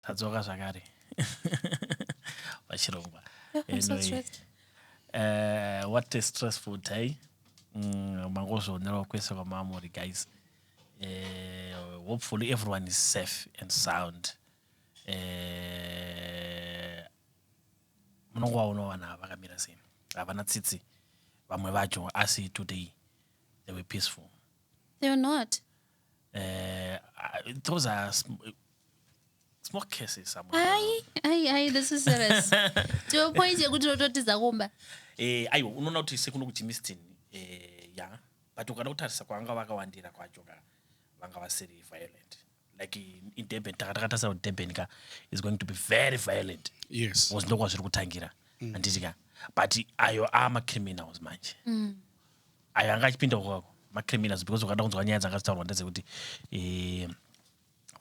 tadzoka zvakare pachirongwa anyway, uh, what a stressful day mm, mangozvionerwa kwese kwamamuri guys uh, hopefully everyone is safe and sound eh, munongo waona vana vakamira sei havana tsitsi vamwe vacho asi today they were peaceful they were not Uh, those are sm- small cases. Ayi, ayi, ayi, this is serious. Tiwe point yekuti unototiza kumba. Eh, ayo unoona kuti sekuno kuchimistin eh, ya but ukada kutarisa kwavanga vakawandira kwacho ka vanga vasiri violent like in, in durban takatakatarisa kuti durban ka is going to be very violent yes because ndokwazviri kutangira mm. anditi ka but ayo aamacriminals manje mm. ayo anga achipinda kwako macriminals because ukada kunzwa nyaya dzanga dzitaurwa ndedzekuti eh,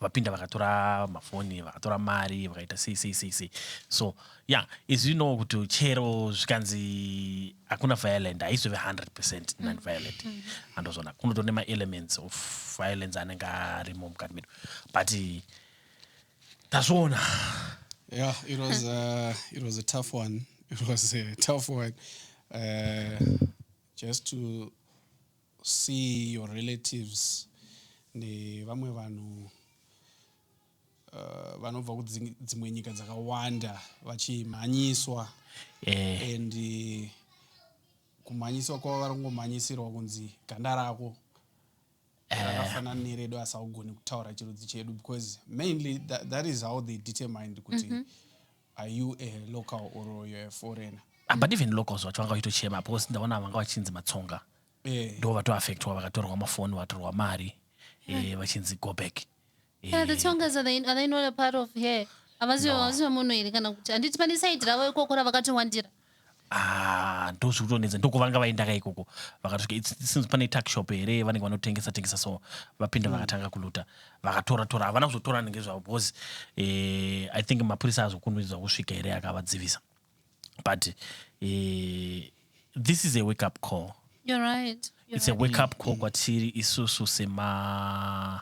vapinda vakatora mafoni vakatora mari vakaita sei sei sei sei so ya yeah, izvi inowo kuti chero zvikanzi hakuna violent haizove 100 percent mm. nonviolent mm. andozvona kunotone maelements of violence anenge arimo mukati medu but tazviona yeah it was uh, it was a tough one it was a tough one uh, just to see your relatives nevamwe vanhu uh, vanobva kudzimwe nyika dzakawanda vachimhanyiswa yeah. and uh, kumhanyiswa kwava vari kungomhanyisirwa kunzi ganda rako rakafanana neredu asi haugoni kutaura chirudzi chedu because mainly that, that is how they determined kuti mm -hmm. are you a local or you're a foreigner ah, but even locals vacho vanga vachitochema because ndaona vanga vachinzi matsonga eh. ndo vatoaffectwa vakatorwa mafoni vatorwa mari eh, vachinzi go back Yeah, the Tongas are they, are they not a part of here? Havasi No. havasi vemunhu here kana kuti handiti pane side ravo ikoko ravakatowandira? Ah, ndozvikutonetsa ndokovanga vaendaka ikoko vakatosvika it's- it seems pane tuck shop here vanenge vanotengesa tengesa so vapinda Mm. vakatanga kuluta vakatora tora havana kuzotora nenge zvavo because eh, i think mapurisa azokunuidzwa kusvika here akavadzivisa but eh, this is a wake up call You're right. You're it's a right. wake up call kwatiri isusu sema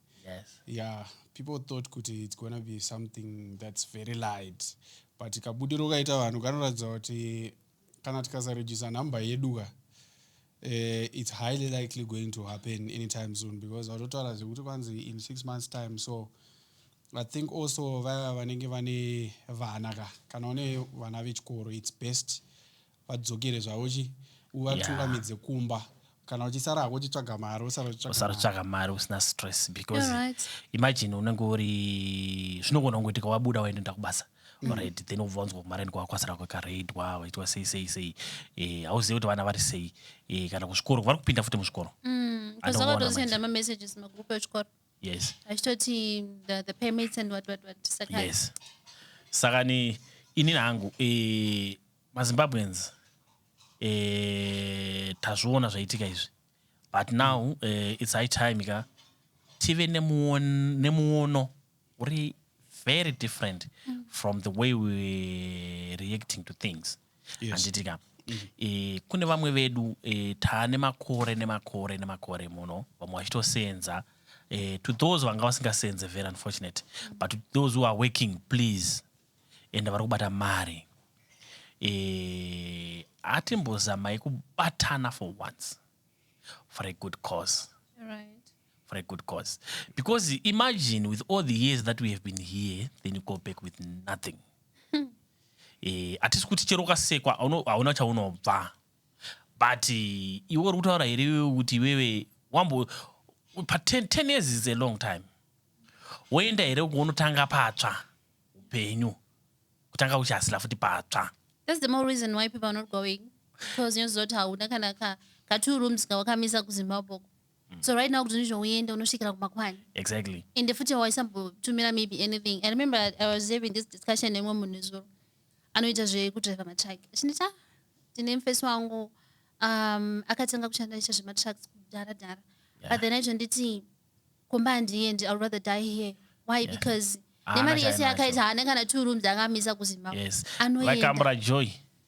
Yes. Yeah, people thought kuti it's gonna be something that's very light but kabudiro kaita vanhu kanoratidza kuti kana tikasarejisa number yedu ka uh, it's highly likely going to happen anytime soon because vatotaura zvekuti kwanzi in six months time so i think also vaya vanenge vane vana ka kana une vana vechikoro it's best vadzokere zvavo chi uvatungamidze yeah. kumba kana uchisara hako uchitsvaga mari usarotsvaga mari usina stress because yeah, right. imagine unenge uri zvinogona kungoitika wabuda waindoenda kubasa mm. right then ubva wanzwa kumari nika wakwasira kwakaraidwa waitwa sei sei sei eh, hauzive kuti vana vari sei eh, kana kuzvikoro vari kupinda futi muzvikoro mm, yes achitoti the, the payments and what what what saka yes. saka ni inini hangu eh, mazimbabweans eh, tazviona zvaitika izvi but now mm. eh, its high time ka tive nemuono uri very different mm. from the way we reacting to things handiti ka mm. eh, kune vamwe vedu eh, taane makore nemakore nemakore muno vamwe vachitosenza eh, to those vanga vasingasenze very unfortunate mm. but to those who are working please and vari kubata mari eh, atimbozamai kubatana for once for a good cause right. for a good cause because imagine with all the years that we have been here then you go back with nothing eh, atisi kuti chero ukasekwa hauna chaunobva but eh, iwe uri kutaura here iwewe kuti iwewe wambo pa 10 years is a long time woenda here kunotanga patsva upenyu kutanga uchihasila futi patsva That's the more reason why people are not going because unoziva kuti hauna kana ka, ka two rooms kawakamisa kuzimbabwe uko mm. so right now kuti ndizvo uende unosvikira kumakwani exactly ende futi hawaisambotumira maybe anything i remember i was having this discussion nemwe munhu nezuro anoita zvekudriver matruck achinditi ah tine mfesi wangu um, akatanga kushanda aita zvematrucks kudhara dhara yeah. but then aitonditi kumba handiendi ill rather die here why yeah. because nemari yese yakaita haana kana two rooms angamisa kuzimbabwe yes. anoendakambura joy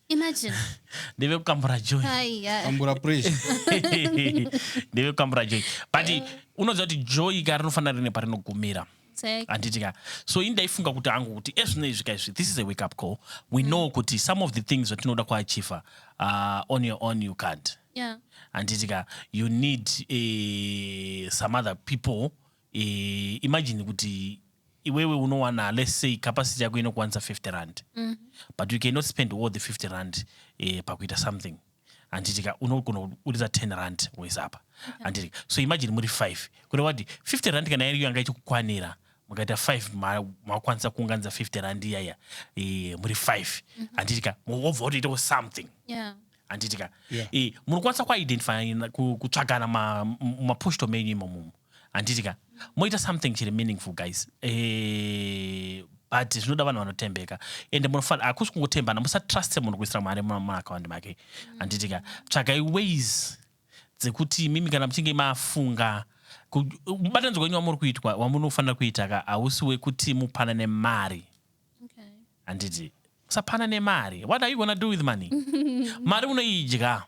imagine ndeve kukambura joy kambura pressure ndeve kukambura joy but eh. unoziva kuti joy ka rinofanira rine parinogumira handiti ka so ini ndaifunga kuti angu kuti ezvino izvi ka izvi this is a wake up call we mm. know kuti some of the things zvatinoda kuachiva uh, on your own you can't Yeah. handiti ka you need eh, some other people eh, imagine kuti iwewe unowana let's say capacity yako inokwanisa 50 rand but you cannot spend all the 50 rand eh, pakuita something handiti ka unogona kuburitsa 10 rand wese apa handiti ka so imagine muri 5 kureva kuti 50 rand kana iriyo yanga ichikukwanira mukaita 5 ma- makwanisa kuunganidza 50 rand iyaya eh, muri 5 handiti ka mobva kutoitawo something Yeah. handiti ka yeah. e, munokwanisa kuidentify kutsvagana mapostal ma menyu imomumu handiti ka moita something chiri meaningful guys e, but zvinoda vanhu vanotembeka ende munofanira hakusi kungotembana musatruste munhu kuisira mari mumaakaundi make handiti ka tsvagai ways dzekuti mimi kana muchinge mafunga mubatanidzwa wenyu wamuri kuitwa wamunofanira kuita ka hausi wekuti mupanane mari handiti usapana nemari what are you gonna do with money mari unoidya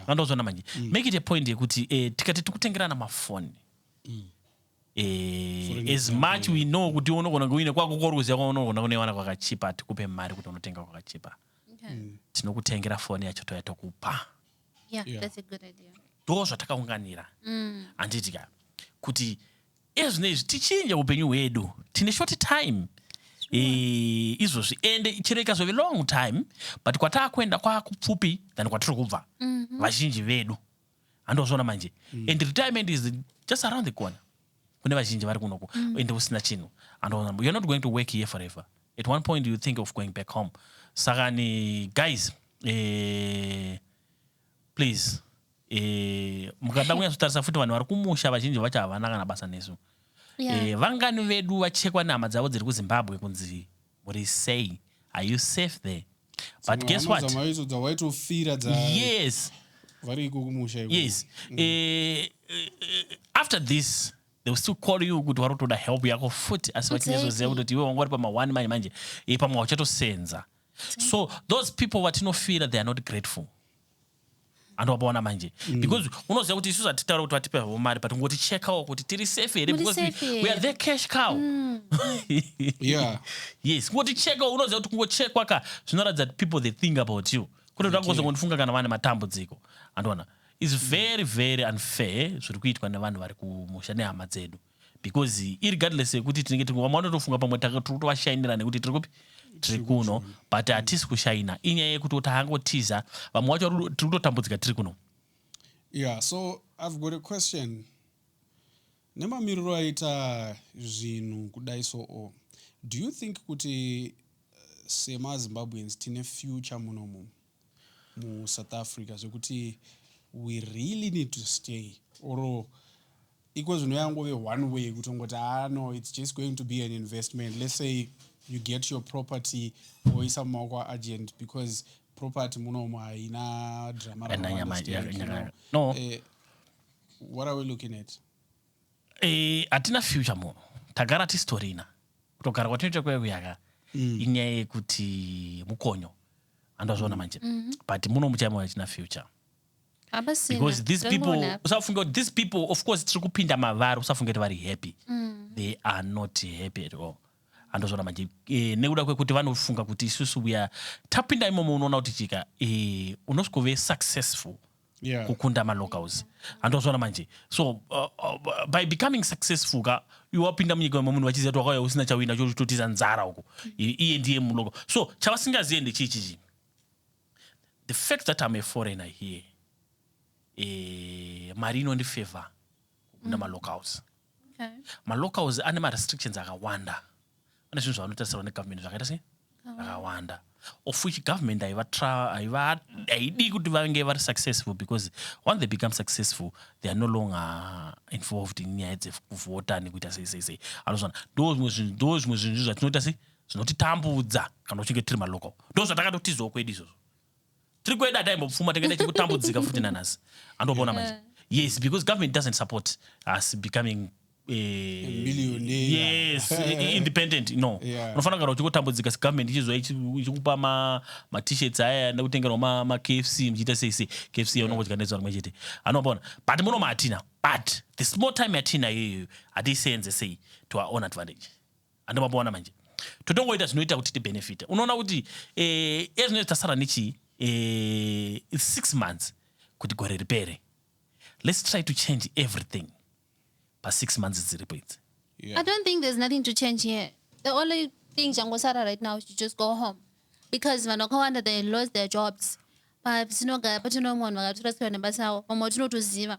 andozvona manje mm. make it a point yekuti eh, tikati tikutengerana mafoni mm. eh, as much we know kuti unogona kuine kwako koruziva kwaunogona kunewana kwakachipa hatikupe mari kuti unotenga kwakachipa mm. tinokutengera foni yacho toya tokupa ndo zvatakaunganira handiti ka kuti Iye zvino izvi tichinje upenyu hwedu tine short time Eh, izvozvi ende chero ikazove long time but kwataakuenda kwakupfupi than kwatiri kubva mhm. vazhinji vedu handozviona manje mm. and retirement is just around the corner kune vazhinji vari kunoku mm. ende usina chinhu andoona you're not going to work here forever at one point you think of going back home saka ni guys eh, please Eh, mukada kunyatsotarisa futi vanhu vari kumusha vazhinji vacho havana kana basa nesu yeah. eh, vangani vedu vachekwa nehama dzavo dziri kuzimbabwe kunzi muri sei are you safe there but guess what yes vari iko kumusha yes mm. eh, eh, eh, after this they will still call you kuti vari kutoda help yako futi asi vachinyazoziva kutoti iwe wanga uri pama-one manje manje eh, pamwe wachatosenza so those people vatinofira they are not grateful andowapaona manje mm. because unoziva kuti isu zvatitaura kuti vatipe havo mari but ngoti checkawo kuti tiri safe here because we are the cash cow mm. yeah. yes ngoti checkawo unoziva kuti kungochekwa ka zvinoratidza kuti people they think about you kuti ndakuzongondifunga kana vane matambudziko andiona is very very unfair zviri kuitwa nevanhu vari kumusha nehama dzedu because irregardless yekuti tinenge tiri vamwe vanotofunga pamwe tiri kutovashainira nekuti tiri kupi tiri kuno but hatisi kushaina inyaya yekuti kuti angotiza vamwe vacho tiri kutotambudzika tiri kuno yeah so i've got a question nemamiriro aita zvinhu kudai so o do you think kuti eh, semazimbabweans tine future munomumu mu South Africa zvekuti we really need to stay or iko zvino yangove one way kutongoti ah no it's just going to be an investment let's say you get your property woisa mumaoko aagent because property munomo haina drama no. uh, what are we looking at eh, hatina uh, future muno tagara tistorina kutogara kwatinoita kwekuyaga mm. inyaya yekuti mukonyo andazviona manje mhm. but muno muchaima vachina future because these people usafunge kuti these people of course tiri kupinda mavari usafunge kuti vari happy mm. they are not happy at all andozvona manje e, nekuda kwekuti vanofunga kuti isusu uya tapinda imomo unoona kuti chika e, eh, unosvikove successful yeah. kukunda malocals handozvona manje so uh, uh, by becoming successful ka iwapinda munyika wemwe munhu vachiziva kuti wakauya usina chawina chototiza nzara uko iye ndiye mulocal so chavasingazive ndechii chichi the fact that am a foreigner here e, mari inondifavor kukunda mm. malocals okay. malocals ane marestrictions akawanda ane zvinhu zvavanotarisirwa negovernment zvakaita sei akawanda of which government haidii kuti vange vari successful because once they become successful they are no longer involved in nyaya dzekuvhota nekuita sei sei sei anozvana ndo zvimwe zvinhu ndo zvimwe zvinhu zvatinoita sei zvinotitambudza kana uchinge tiri malocal ndo zvatakatotizawo kwedu izvozvo tiri kuenda taimbopfuma tikaenda chikutambudzika futi nanhasi andopona manje yes because government doesn't support us becoming yes independent no unofanira kugara uchingotambudzika segovernment ichizwa ichikupa matishirts aya nekutengerwa makfc muchiita sei sei kfc yaunongodya nezuva rimwe chete anobona but muno maatina but the small time yatina iyoyo hatiiseenze sei to our own advantage handi mapoona manje totongoita zvinoita kuti tibenefite unoona kuti eh, ezvino tasara nechii eh, its six months kuti gore ripere let's try to change everything pasix months dziripo idzi yeah. i don't think there's nothing to change here the only thing changosara right now should just go home because vanhu vakawanda they lost their jobs patinogara patinomwe vanhu vakatorasirwa nebasa avo vamwe tinotoziva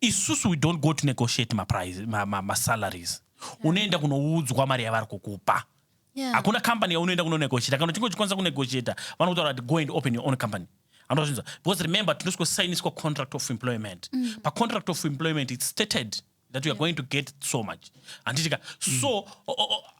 Isusu we don't go to negotiate ma price ma, ma, ma salaries. Unoenda kunoudzwa mari yavari kukupa. Yeah. Hakuna company yaunoenda kuno negotiate. Kana uchinge uchikwanisa ku negotiate, vanokutaura kuti go and open your own company. Anozvinza. Because remember tinosiko sainiswa contract of employment. Mm. Pa contract of employment it's stated that we are yeah. going to get so much. handiti ka mm. so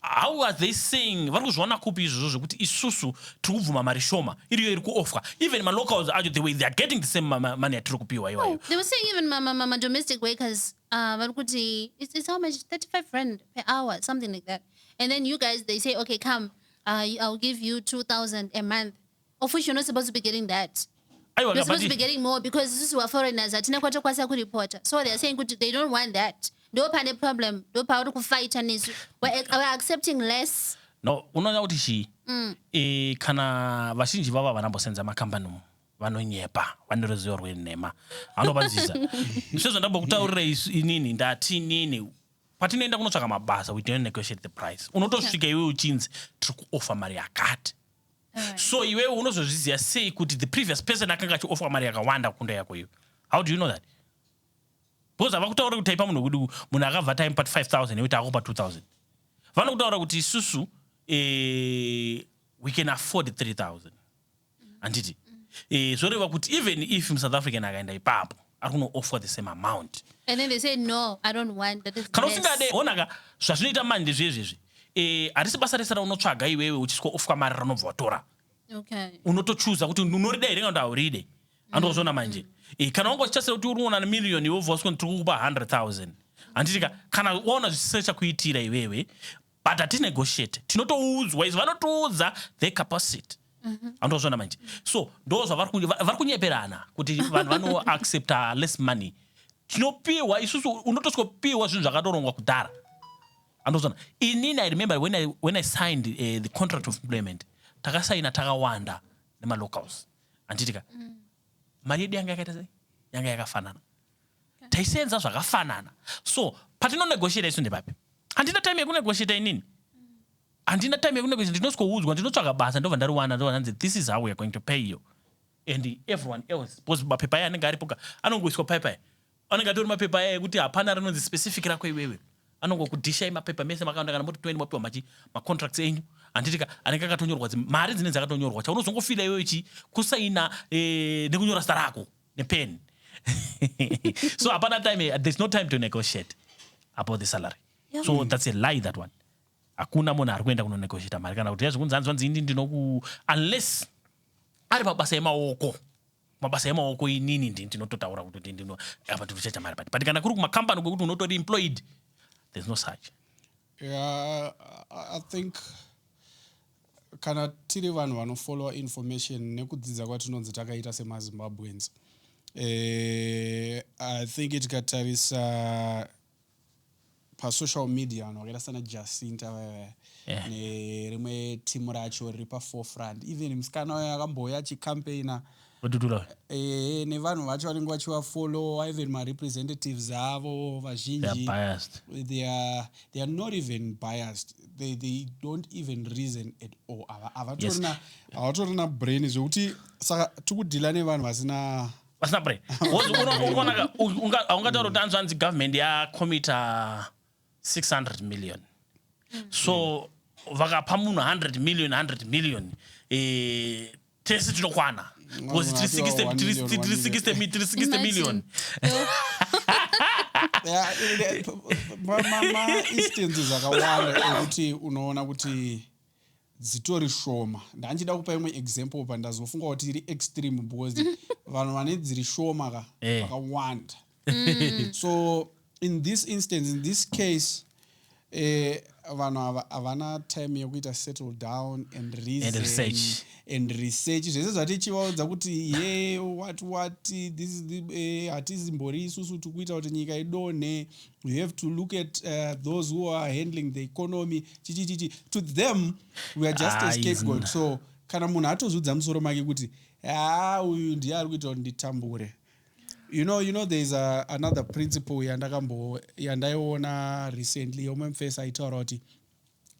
how are they saying vari kuzviona kupi izvozvo zvekuti isusu tiri kubvuma mari shoma iriyo iri kuofwa even malocals acho the way they are getting the same money atiri kupiwa iwayo oh, they were saying even madomestic workers uh, vari kuti it's how much 35 rand per hour something like that and then you guys they say okay come uh, i'll give you 2000 a month Of which you're not supposed to be getting that. Aiwa, You're supposed to be kabadi. getting more because isusu we're foreigners hatina kwatokwanisa kuripota. So they're saying kuti they don't want that. Ndo pane problem, ndo pauri kufighta nesu. We're, ac- we're accepting less. No, unoona kuti chii? Mm. Eh, kana vazhinji vavo vanambosenza makambani umu vanonyepa vane ruzivo rwenhema vanopanzisa sezvandambokutaurira isu inini ndati inini patinoenda kunotsvaka mabasa we don't negotiate the price unotosvika iwe uchinzi tiri kuofa mari yakati so iwewe unozozviziva sei kuti the previous person akanga achiofwa mari yakawanda kunda yako iyo how do you know that because havakutaura kuti taipa munhu wekuti munhu akabva taimupa 5000 yekuti akupa 2000 vanokutaura kuti isusu eh, we can afford 3000 handiti eh, zvoreva kuti even if musouth african akaenda ipapo ari kunoofwa the same amount and then they say no i don't want that is kana usingade onaka zvazvinoita mani ndezvezvezvi eh harisi basa rese raunotsvaga iwewe uchiswa ofwa mari ranobva watora okay unotochuza kuti unorida here kana auride andozvona manje eh kana wanga uchitasira kuti unoona na million iwe voswa tiri kukupa 100000 handitika kana waona zvisisina chakuitira iwewe but hati negotiate tinotoudzwa izvo vanotiudza the capacity mhm. anotozvona manje so ndo zvavari kunyeperana kuti vanhu vanoaccepta less money tinopiwa isusu unotosikopiwa zvinhu zvakatorongwa kudhara andozona inini i remember when i, when I signed uh, the contract of employment takasaina takawanda nemalocals anditika mm. mari yedu yanga yakaita sei yanga yakafanana taisenza zvakafanana so patinonegotiata isu ndepapi handina time yekunegotiata inini handina time yekunegotiata ndinosikoudzwa ndinotsvaga basa ndobva ndariwana ndobva ndanzi this is how weare going to pay you and everyone else because mapepa aya anenge aripoka anongoiswa paya paya anenge atori mapepa aya ekuti hapana rinonzi specific rako iwewe anongokudhishai mapepa mese makaenda kana moti toeni mapiwa machi macontracts enyu handitika anenge akatonyorwa mari dzinenge dzakatonyorwa chaunozongofila iwewe chi kusaina eh, nekunyora zita rako nepen so hapana time there's no time to negotiate about the salary yeah. so that's a lie that one hakuna munhu ari kuenda kunonegotiata mari kana kuti ya zvekunzi hanzi vanzi ini ndinoku unless ari mabasa emaoko mabasa emaoko inini ndi ndinototaura kuti ndino apa ndinochacha mari pati but kana kuri kumakambani kwekuti unotori employed there's no such yeah, i think Kana tiri vanhu vanofollower information nekudzidza kwatinonzi takaita semaZimbabweans eh, I think tikatarisa pasocial media vanhu vakaita sana Jacinta vaya yeah. nerimwe timu racho riri paforefront even musikana wayo akambouya achicampaigner vadutura eh, nevanhu vacho vanenge vachivafollowa even marepresentatives avo vazhinji they are, they are not even biased they, they don't even reason at all havatorina yes. brain zvekuti saka tikudhila nevanhu vasina vasina brain ungatora kuti anzvanzi government yakomita 600 million mm. so vakapa munhu 100 million 100 million eh, tese tinokwana because tiri 60 million maistances akawanda ekuti unoona kuti dzitori shoma ndandichida kupa imwe example pa ndazofunga kuti iri extreme because vanhu vane dziri shoma ka eh. vakawanda mm. so in this instance in this case eh, vanhu ava havana time yekuita settle down and reason, and research and research zvese zvatichivaudza kuti ye what what this eh, hatizimbori eh, isusu tikuita kuti nyika idonhe you have to look at uh, those who are handling the economy chichichichi to them we are just ah, a scapegoat so kana munhu atozvidza musoro make kuti haa ah, uyu ndiye ari kuita kuti nditambure you know you know there is a, another principle yandakambo yandaiona recently yomwe mfesi aitaura kuti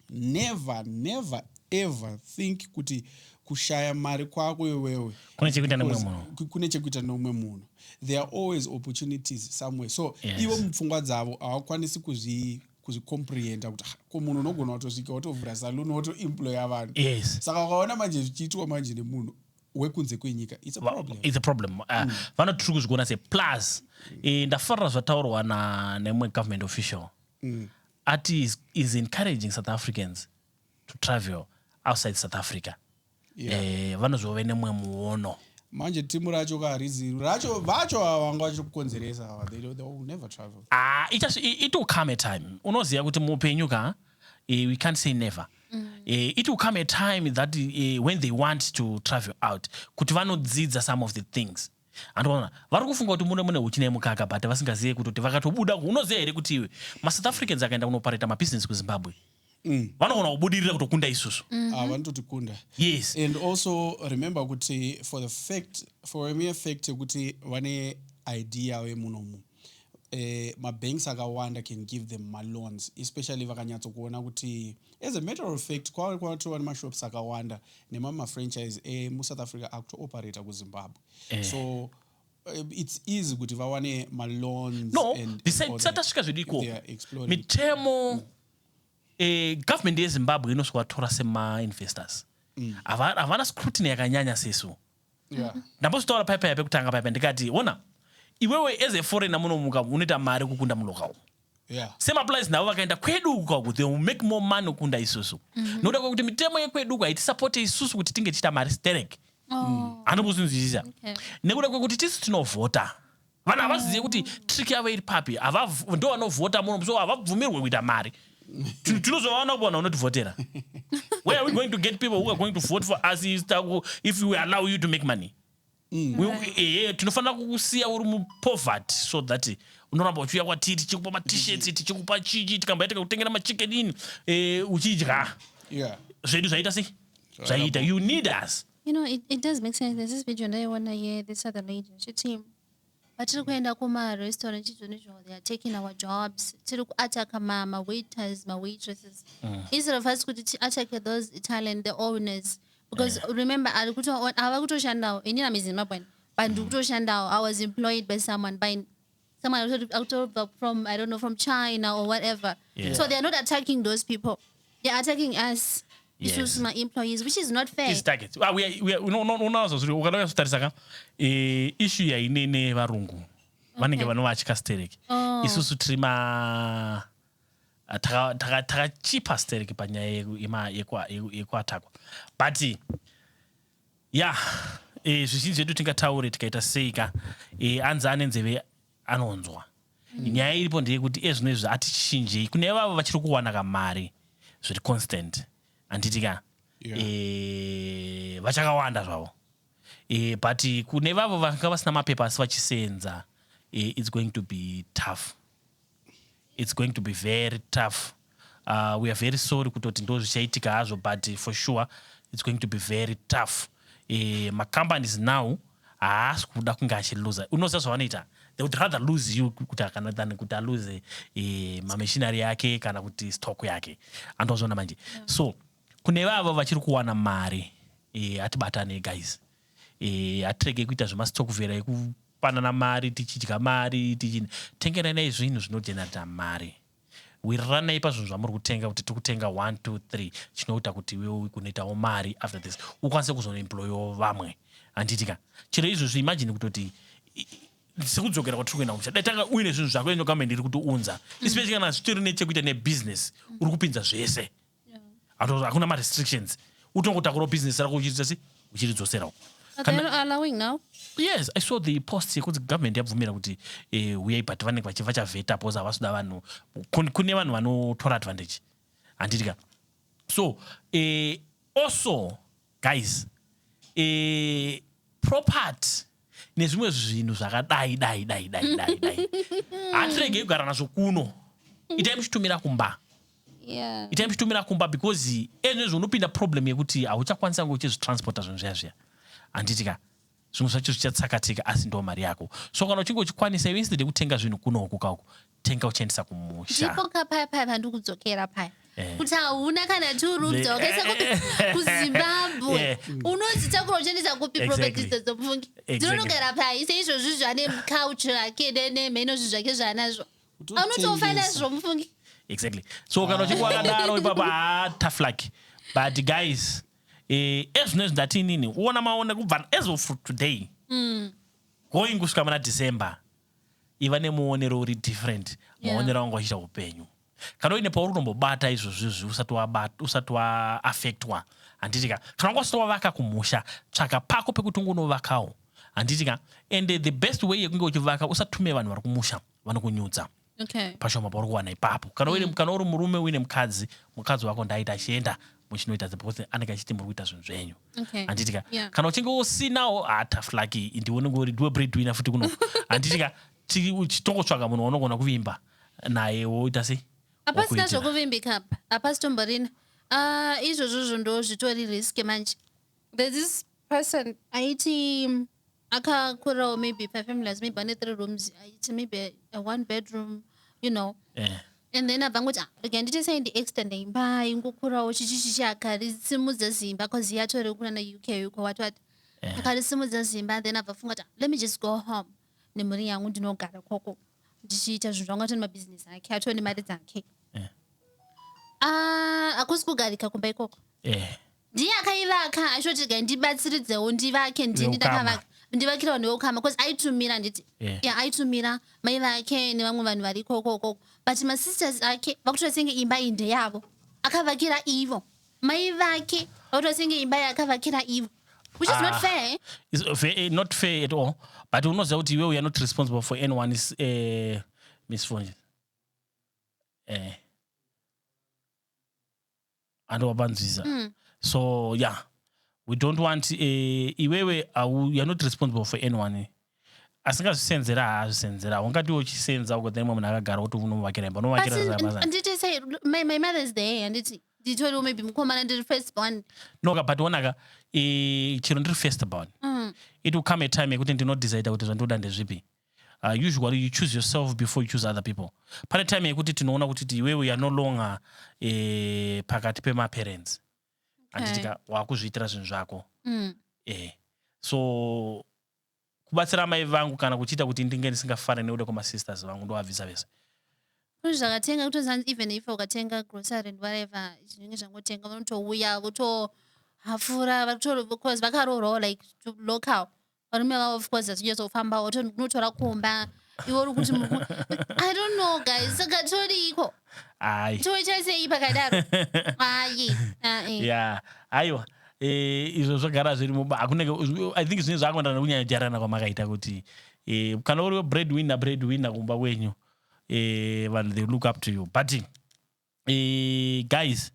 never never ever think kuti kushaya mari kwako iwewe kune chekuita nemwe munhu kune chekuita neumwe munhu there are always opportunities somewhere so yes. ivo mupfungwa dzavo hawakwanisi kuzvi kuzvicomprehenda kuti ko munhu unogona kutosvika wotovhura saluni wotoemploya vanhu yes. saka wakaona manje zvichiitwa manje nemunhu wekunze kwenyika it's a problem, it's a problem. Uh, mm. vanoti tiri kuzviona se plus mm. eh, ndafarira zvataurwa na nemwe government official mm. ati is, is encouraging south africans to travel outside south africa yeah. eh, vanozove nemwe muono manje timu racho ka harizi racho vacho vanga vachiri kukonzeresa ava they, they will never travel ah, it, it will come a time unoziva kuti muupenyu ka eh, we can't say never Eh, it will come a time that eh, when they want to travel out kuti vanodzidza some of the things andoona vari kufunga kuti mune mune huchi nemukaka but vasingazive kuti kuti vakatobuda unoziva here kuti iwe masouth africans akaenda kunopareta mabusiness kuzimbabwe vanogona kubudirira kutokunda isusu Ah, vanototikunda yes and also remember kuti for the fact for a mere fact yekuti vane id yavo yemunomu eh, mabanks akawanda can give them maloans especially vakanyatsokuona kuti as a matter of fact kwave kwatova nemashops akawanda nemamwe mafranchise emusouth eh, africa akutooperator kuzimbabwe eh. so eh, it's easy kuti vawane maloans no, tisatasvika zvedu ikoko mitemo mm. eh, government yezimbabwe inosvika vatora semainvestors mm. havana mm. scrutiny yakanyanya sesu yeah. ndambozotaura paya paya pekutanga paya ndikati ona iwewe as a foreigner muno muka unoita mari kukunda muloka umu Yeah. same applies navo vakaenda kwedu uku kwaku they will make more money kukunda isusu mm -hmm. nokuda kwekuti mitemo yekwedu uku haitisapote isusu kuti tinge tichiita mari sterek oh. anobuzvinzwisisa okay. nekuda kwekuti tisu tinovhota vanhu havazive kuti trick yavo iri papi ndo vanovhota muno so havabvumirwe kuita mari tinozovaona kupa vanhu vanotivhotera where are we going to get people who are going to vote for us if we allow you to make money mm. ehe tinofanira kukusiya uri mupoverty so that unoramba uchiuya kwatiri tichikupa matishets tichikupa chichi tikambaita kakutengera machicken ini eh, uchidya zvedu zvaita sei zvaita you need us You know, it, it does make sense. There's this video ndaiona ye this other lady ndichiti vatiri kuenda kumarestaurant izvoni izvo they are taking our jobs tiri kuataka mawaiters mawaitresses mm. instead of us kuti tiatake those italian the owners because yeah. remember ari kuto ava kutoshandawo ini namizimbabwean but ndiri mm. kutoshandawo i was employed by someone by someone akutobva from i don't know from china or whatever yeah. so they're not attacking those people they're attacking us yes. issues my employees which is not fair is target ah, we are, we are, no, no, no, so sorry ukadauya sotarisa ka eh, issue yaine nevarungu vanenge vanovatya stereki oh. isusu tiri ma ah, takachipa stereki panyaya yekuatakwa but Yah e, zvizhinji zvedu tingataure tikaita sei ka e, anzi ane nzeve anonzwa mm. nyaya iripo ndeyekuti ezvino izvi hatichinjei kune vavo vachiri kuwana kamari zviri constant handiti ka yeah. e, vachakawanda zvavo e, but kune vavo vanga vasina mapepa asi vachisenza e, its going to be tough it's going to be very tough uh, we are very sorry kutoti ndo zvichaitika hazvo but for sure it's going to be very tough e, macompanies now haasi kuda kunge achiluza unoziva zvavanoita they would rather lose you kuti akana than kuti aluse e, mamishinari yake kana kuti stock yake andozviona manje yeah. so kune vavo vachiri kuwana mari e, atibatane guys e, atirege kuita zvemastock vera panana mari tichidya mari tichi tengerai nei zvinhu zvinogenerator mari wiriranai pazvinhu zvamuri kutenga kuti tiri kutenga 1 2 3 chinoita kuti iwewe kunoitawo mari after this ukwanise kuzoemployawo vamwe handiti ka chero izvozvi imagine kutoti sekudzokera kwatiri kuenda kumusha dai tanga uine zvinhu zvako ino government iri kutiunza mm. especially kana zvitori nechekuita nebusiness uri kupinza zvese Hatu- hakuna marestrictions utongotakurawo business rako uchiita sei uchiridzosera uko But Kana- they're not allowing now. yes i saw the post yekunzi government yabvumira kuti eh, huyai but vanenge vachi- vachavheta bcause havasi kuda vanhu kun- kune vanhu vanotora advantage handiti ka so eh, also guys eh, property nezvimwe zvinhu zvakadai dai dai dai dai dai hatiregei kugara nazvo kuno itai muchitumira kumba yeah. itai muchitumira kumba because ezvino zvinopinda problem yekuti hauchakwanisa kunge uchizvitransporta zvinhu zviya zviya handiti ka zvimwe zvacho zvichatsakatika asi ndo mari yako so kana uchinge uchikwanisa iwe instead yekutenga zvinhu kunoku kauku tenga uchiendisa kumusha ndipo ka paya paya pandikudzokera paya Eh. kuti hauna kana two rooms The- wakaisa kupi eh, eh, kuzimbabwe eh. unodzitakura uchiendesa kupi Exactly. properties dzedzo pfungi Exactly. dzinonogara paya seizvozvi zvane couch rake ne- nemheno zvi zvake zvaanazvo Kutotengesa. anotofa nazvo mufungi exactly so kana uchinge wakadaro ipapo haa tough luck but guys eh, ezvinezvi ndati inini uona maona kubva as of today going kusvika muna december iva nemuonero uri different yeah. maonero anga wachiita upenyu kana uine pauri kutombobata izvozvizvi usati waaffectwa handiti ka kana wanga usati wavaka kumusha tsvaka pako pekuti unge unovakawo handiti ka and the best way yekunge uchivaka usatume vanhu vari kumusha vanokunyudza okay. pashoma pauri kuwana ipapo kana mm. kana uri murume uine mukadzi mukadzi wako ndaita achienda muchinoita the anenge achiti muri kuita zvinhu zvenyu okay. handiti ka yeah. kana uchinge usinawo hataflaki ah, ndiwe unenge uri ndiwe breadwina futi kuno handiti ka chitongotsvaga munhu waunogona kuvimba naye woita sei hapasina zvokuvimbika apa hapasi tomborina ah, izvozvozvo ndo zvitori risk manje there's this person aiti akakurawo maybe pafamilies maybe ane three rooms aiti maybe a one bedroom you know yeah. and then abva ngoti ah, rega nditi sei ndiextenda imba ingokurawo chichi chichi akarisimudza zimba bcause iye atori kunana uk uko wati wati yeah. akarisimudza zimba then abva funga kuti ah, let me just go home nemhuri yangu ndinogara koko ndichiita zvinhu zvangu atone mabhizinesi ake atone mari dzake yeah. ah, akusi kugarika kumba ikoko yeah. ndiye akaivaka achotega ndibatsiridzewo ndivake ndini ndakavaka ndivakira vanhu veukama bcause aitumira handiti yeah. aitumira mai vake nevamwe vanhu vari kokokoko but masisters ake vakutoita senge imba iyi ndeyavo akavakira ivo mai vake vakutoita senge imba iyi akavakira ivo which is ah, not fair uh, fair, eh, not fair at all but unoziva kuti iwe we are not responsible for anyone is uh, eh, misfortune uh, eh. and wapanzwiza mm. so yeah we don't want eh, iwewe you're not responsible for anyone asingazvisenzera haazvisenzera ungati uchisenza uko then imwe munhu akagara kuti unovakira imba unovakiraanditi say my, my mother is there handiti nditoriwo maybe mukomana ndiri first born noka but onaka chero ndiri first born mm. it will come a time yekuti ndinodecide kuti zvandoda ndezvipi uh, usually you choose yourself before you choose other people pane time yekuti tinoona kuti ti iwewe youare no longer eh, pakati pemaparents anditika eh. wakuzviitira zvinhu zvako mm. eh. so kubatsira amai vangu kana kuchiita kuti ndinge ndisingafare neuda kwamasisters vangu ndovabvisa vese zvinhu zvakatenga kutozanzi even if ukatenga grocery and whatever zvinenge zvangotenga vanotouya votohafura vakaroorwawo like local varume vavo of course achinyatsoufamba unotora kumba iwe uri kuti i don't know guys saka todiiko toitasei pakadaro ayi ya aiwa eh, izvo zvagara zviri muba hakunenge i think zvinenge zvakuendana nekunyanya jarana kwamakaita kuti eh, kana uri bread winner bread winner kumba kwenyu eh, vanhu they look up to you but Eh, guys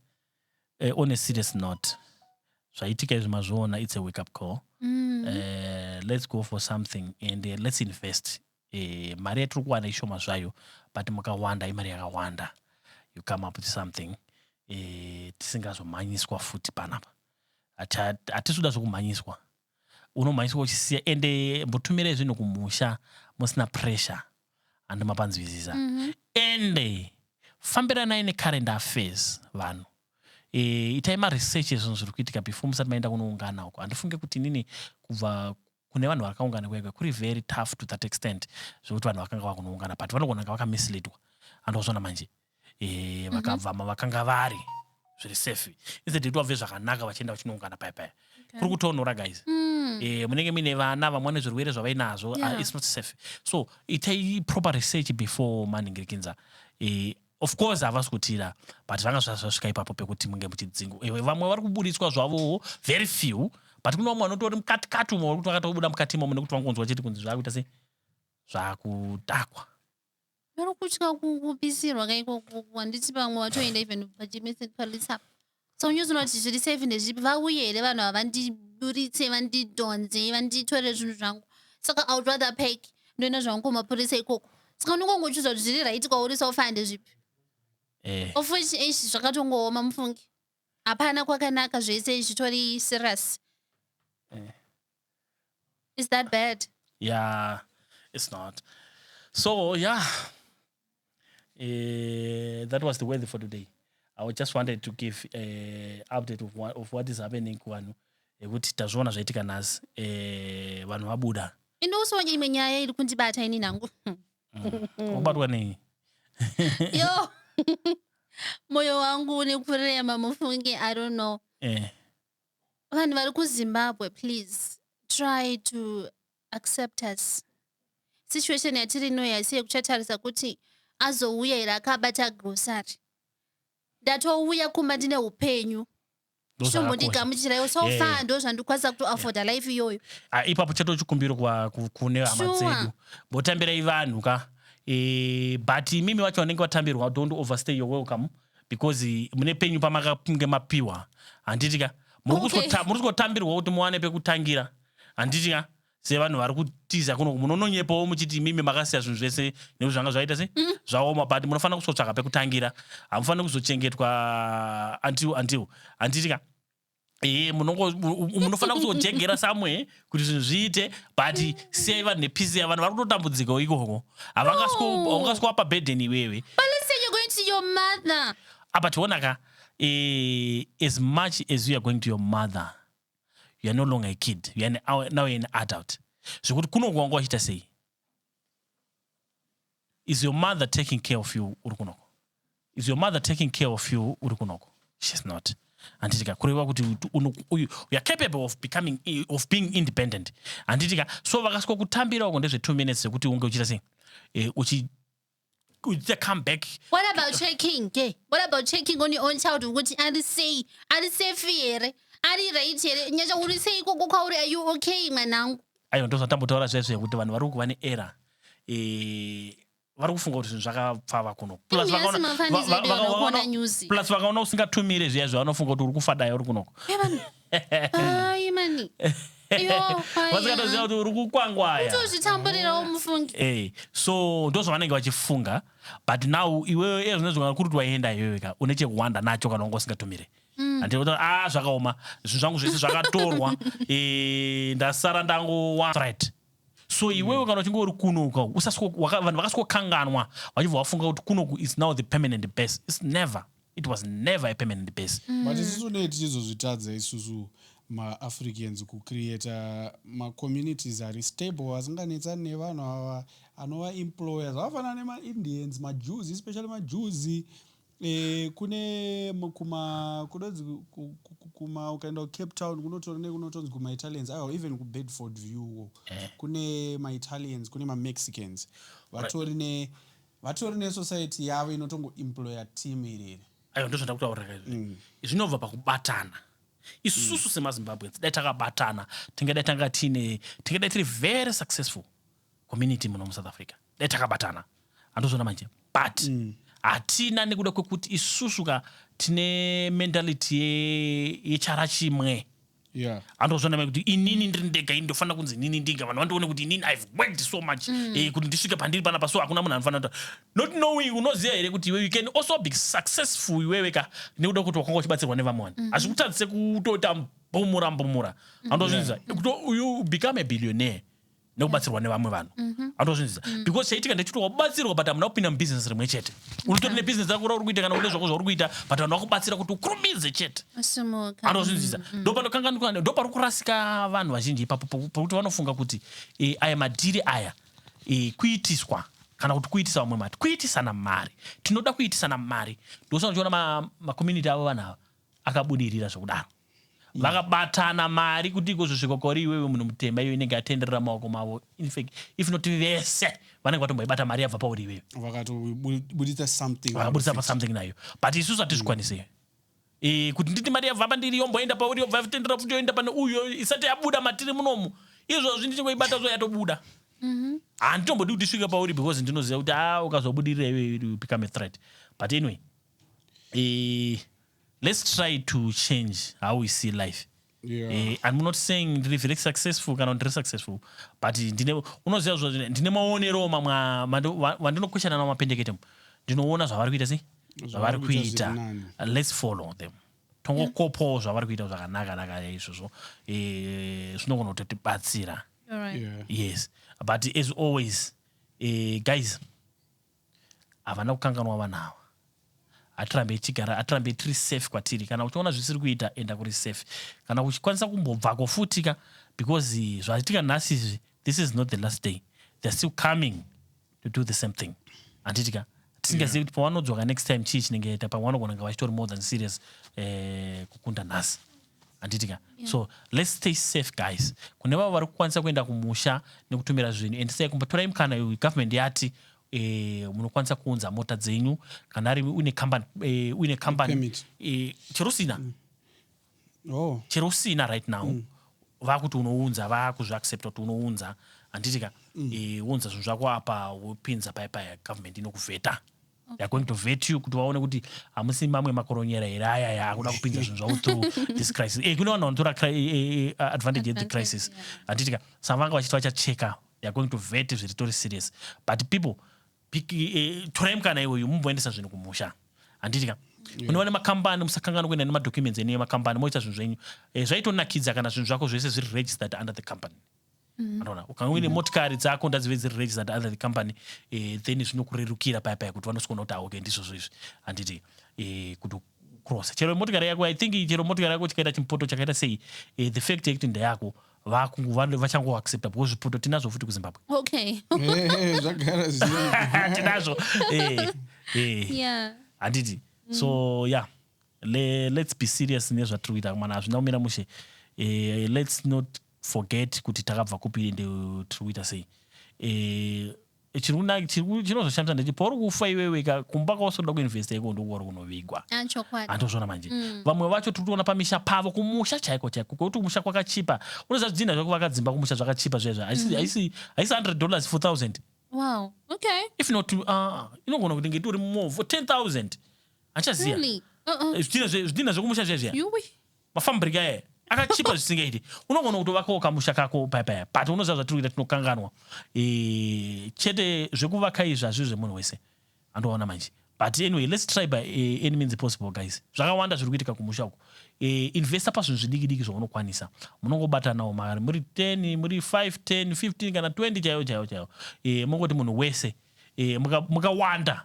eh, on a serious note zvaitika izvi mazviona it's a wake up call Mm. Eh, let's go for something and eh, let's invest Eh, mari yatiri kuwana ishoma zvayo but makawanda imari yakawanda you come up with something eh, tisingazomhanyiswa futi panapa Hata- hatisi kuda zvekumhanyiswa unomhanyiswa uchisiya ende mbotumirai zvinhu kumusha musina pressure handi mapanzwisisa mm -hmm. ende fambiranai necurrent affairs vanhu e, itai maresearch ezvinhu zviri kuitika before musati maenda kunoungana uko handifunge kuti nini kubva kune vanhu vakaungana kwega kuri very tough to that extent zvekuti vanhu vakanga vakunoungana but vanogona nga vakamisleadwa andozvona manje e, mhm. vakabva mm -hmm. mavakanga vari zviri safe instead yekuti vabve zvakanaka vachienda vachinoungana paya paya okay. kuri kutonhora guys mm. e, munenge muine vana vamwe vane zvirwere zvavainazvo ah, yeah. uh, its not safe so itai proper research before maningirikinza e, of course havasi kutira but vanga zvasvika ipapo pekuti munge muchidzingu eh, vamwe vari kuburitswa zvavowo very few but kune vamwe vanotori mukatikati umwe vari kuti vakatobuda mukati imomo nekuti vangonzwa chete kunzi zvaakuita sei zvaakutakwa Vari kutya kupisirwa ka ikoko handiti pamwe vatoenda even pachimese police apa so unyuziona kuti zviri safe ndezvipi vauye here vanhu ava vandiburitse vandidhonze vanditore zvinhu zvangu saka i would rather pack ndoenda zvangu kumapurisa ikoko saka unongongochuza kuti zviri right kwauri sofa ndezvipi eh. of which eish zvakatongooma mufungi hapana kwakanaka zvese zvitori serious eh. is that bad yeah it's not so yeah uh, that was the weather for today i just wanted to give uh, update of, one, of what is happening kuvanhu yekuti tazviona zvaitika nhasi uh, vanhu vabuda ini uso imwe nyaya iri kundibata ini nangu wabatwa mm. nei yo moyo wangu une kurema mufunge i don't know eh. Vanhu vari kuZimbabwe please try to accept us. Situation yatiri inoyi haisi yekuchatarisa kuti azouya here akabata grocery. Ndatouya kumba ndine upenyu. Chitombondigamuchiraiwo so yeah. far ndo zvandikwanisa kutoafforda yeah. life iyoyo. Ah, ipapo chato chikumbiro kune hama dzedu. Botambirai vanhu ka. E, but imimi wacho vanenge vatambirwa don't overstay your welcome. because mune penyu pamakange mapiwa handiti ka muri kuzotambirwa kuti muwane pekutangira handiti ka sevanhu vari kutiza kuno munononyepawo muchiti imimi makasiya zvinhu zvese nekuti zvanga zvaita se mm. zvaoma but munofanira kuzotsvaga pekutangira hamufaniri kuzochengetwa antil antil handiti ka e munofanira kuzojegera somewhere kuti zvinhu zviite but siyai vanhu nepisi yavanhu vari kutotambudzikawo ikoko havangasikuwapa burden iwewe apa tiona ka e, as much as youare going to your mother youare no longer a kid youare now youare an adult zvekuti kunokuwanga wachiita sei is your mother taking care of you uri kunoko is your mother taking care of you uri kunoko she's not handitika kureva kuti uyu youare capable of becoming of being independent handitika so vakasiko kutambira uko ndezve two minutes zvekuti unge uchita sei e, uchi kuita comeback what about checking ke what about checking on your own child ukuthi ari sei ari safe here ari right here nyasha uri sei ikoko kwauri are you okay mwanangu aiwa ndozvatambotaura zvezve kuti vanhu vari kuva neera eh, vari kufunga kuti zvinhu zvakapfava kuno plus Imi vakaona- asi mafanidzo va- va- edu vakaona- vanokuona news. plus vakaona usingatumire zviya zviya vanofunga kuti uri kufadaya uri kunoko Evan, Ai mani. Yo, kwaya. vasikatoziva kuti uri kukwangwaya Kutozvitamburirawo mufungi. Eh, so ndozvavanenge vachifunga but now iwewe iye zvinezvi kana kuri kuti waienda iwewe ka une chekuwanda nacho kana wanga usingatumire andinotaura ah zvakaoma zvinhu zvangu zvese zvakatorwa eh, ndasara ndangowa right so iwewe kana uchinge uri kuno uka usasiko- waka- vanhu vakasikokanganwa vachibva vafunga kuti kunoku is now the permanent base its never it was never a permanent base mm. but isusu tinenge tichizozvitadza isusu maafricans kucreata macommunities ari stable asinganetsani nevanhu ava anova employer zvakafanana nemaindians majews especially majews e, kune kuma kunonzi kuma ukaenda kucape town kunotora nekunotonzi kumaitalians aiwa even kubedford view eh. kune maitalians kune mamexicans vatori right. ne Vatori ne society yavo inotongo employer team iri iri. Aiwa ndozvandiri kutaura ka izvi. Mm. Zvinobva pakubatana. Isusu mm. semaZimbabweans dai takabatana tingadai tanga tine tingadai tiri very successful community muno muSouth Africa. Dai takabatana. Andozvona manje. But mm. hatina nekuda kwekuti isusu ka tine mentality yechara chimwe. yeah. andozvana mai kuti inini ndiri ndega ini ndofanira kunzi inini ndiga vanhu vandione kuti inini ive worked so much mm. eh, kuti ndisvike pandiri panapa so hakuna munhu anofanira kuta not knowing unoziva here kuti iwe you can also be successful iwewe ka nekuda kuti wakanga uchibatsirwa nevamwe vanhu mm-hmm. hazvikutadzise kutoita mbumura mbumura mm-hmm. andozvinza yeah. you become a billionaire nekubatsirwa nevamwe vanhu mhm. anotozvinzisa mm. because chaitika ndechiti wabatsirwa but hamuna kupinda mubusiness rimwe chete unotori nebusiness rako rauri kuita kana une zvako zvauri kuita but vanhu vakubatsira kuti ukurumidze chete anotozvinzisa mm, mm. ndopanokanganikwa ndopari kurasika vanhu vazhinji ipapo pokuti vanofunga kuti eh, aya madhiri aya eh, kuitiswa kana kuti kuitisa vamwe mari kuitisana mari tinoda kuitisana mari ndosana uchiona macommunity avo vanhu ava akabudirira zvokudaro mm. vakabatana mari kuti ikozvosvika kwauri iwewe munhu mutema iyo inenge yatenderera maoko mavo infact if not vese vanenge vatomboibata mari yabva pauri iwewe vakatobuditsa something vakabuditsa pasomething nayo but isusu hatizvikwanise mm. e, kuti nditi mari yabva pandiri yomboenda pauri yobva yatendera futi yoenda pane uyo isati yabuda matiri munomu izvozvi ndichingoibata zvo yatobuda mm-hmm. handitombodi kuti isvika pauri because ndinoziva kuti a ah, ukazobudirira iwe become a threat but anyway eh, let's try to change how we see life Yeah. Eh, i'm not saying ndiri very successful kana kuti ndiri successful but ndine unoziva zvo ndine maonerewo mamwe a- mando- wa- wandinokweshana nawo mapendekete mu. ndinoona zvavari kuita sei zvavari kuita kuita zviri nani. Uh, let's follow them tongokopawo zvavari kuita zvakanaka naka izvozvo Eh, zvinogona kutotibatsira All right. Yeah. yes but as always eh, guys Havana kukanganwa vana ava. Hatirambei tichigara, hatirambei tiri safe kwatiri. Kana uchiona zvisiri kuita, enda kuri safe. Kana uchikwanisa kumbobvako futi ka because eh, zvaitika nhasi izvi, this is not the last day. They're still coming to do the same thing. Handiti ka? Tisingazivi kuti pavanodzwaka next time chii chinenge chaita, pamwe vanogona kunge vachitori more than serious eh, kukunda nhasi. handiti ka yeah. so let's stay safe guys kune vavo vari kukwanisa kuenda kumusha nekutumira zvinhu and sei kumbotorai mukana uyu government yati eh, munokwanisa kuunza mota dzenyu kana ari uine company eh, uine company eh, chero usina mm. oh. chero usina right now mm. vakuti unounza vakuzviaccepta kuti unounza handiti ka mm. eh, wounza zvinhu zvako apa wopinza paya paya government inokuvheta Okay. They're going to vet you kuti vaone kuti hamusi mamwe makoronyera here aya ya akuda kupinza zvinhu zvavo through this crisis e, kune vanhu vanotora eh, eh, eh, advantage yethe crisis handiti ka sa vanga vachiti vachacheka they're going to vet zviri tori serious but people torai mukana iwoyu mumboendesa zvinhu kumusha handiti ka unova nemakambani musakangana kuenda nemadocuments ene emakambani moita zvinhu zvenyu zvaitonakidza kana zvinhu zvako zvese zviri registered under the company mm. anoona ukanga uine mm. motikari dzako ndadzive dziri registered under the company eh, then zvinokurerukira paya paya kuti vanosikona kuti aoke ndizvozvo izvi handiti eh, kuti cross chero motikari yako i think chero motikari yako chikaita chimpoto chakaita sei eh, the fact yekuti ndeyako vachangoaccepta because zvipoto tinazvo futi kuzimbabwe okay. Eh, zvagara tinazvo handiti so yeah Le, let's be serious nezvatiri kuita mwana hazvina kumira mushe uh, let's not forget kuti takabva kupi ende tiri kuita sei eh, chinozoshamisa ndeti pauri kufa iweweka kumba kwausoda kuinvesta iko ndokuwari kunovigwa ah, andozvona manje mm. vamwe vacho tiri kuona pamisha pavo kumusha chaiko chaiko kwekuti kumusha kwakachipa unoziva zvidhinha zvekuvaka dzimba kumusha zvakachipa zvezvo mm-hmm. haisi 100 dollars 4000 wow okay if not uh, ah, inogona kuti ngeti uri more 10000 achaziva uh-uh. eh, zvidhinha zvekumusha zviya zviya Mafambrika aya akachipa zvisingaiti unogona kutovakawo kamusha kako paya paya but unoziva zvatiri kuita tinokanganwa e, chete zvekuvaka izvi hazviri zvemunhu wese andoona manje but anyway let's try by uh, any means possible guys zvakawanda zviri kuitika kumusha uku uh, eh, investa pazvinhu zvidiki diki zvaunokwanisa munongobatanawo mari muri 10 muri 5 10 15 kana 20 chaiyo chaiyo chaiyo uh, mongoti munhu wese uh, mukawanda muka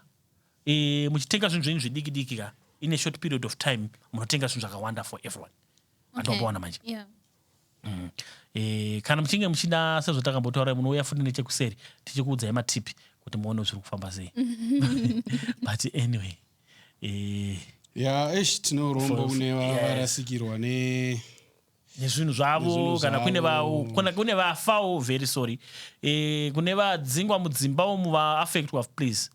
Eeh muchitenga zvinhu zvenyu zvidiki diki ka in a short period of time munotenga zvinhu zvakawanda for everyone. Vanhu okay. vapawana manje. Yeah. Mm. E, kana muchinge muchida sezvatakambotaura munouya futi nechekuseri tichikuudzai matipi kuti muone zviri kufamba sei but anyway e, ya esh tinorombo kune varasikirwa ne nezvinhu zvavo kana kune vavo kana kune vafawo very sorry e, kune vadzingwa mudzimba umu vaaffectwa please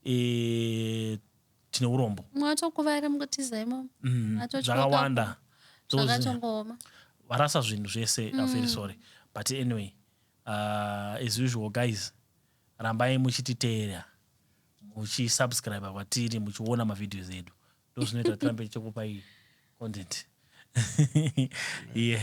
eh, tine urombo mwatokuvara mugotiza imomo Mm, Atotyoka zvakawanda ko. Those- zvakatongooma varasa zvinhu zvese mm. very sorry but anyway uh, as usual guys rambai muchititeera muchisubscribe kwatiri muchiona mavideos edu ndo zvinoita kuti tirambe tichikupai content yes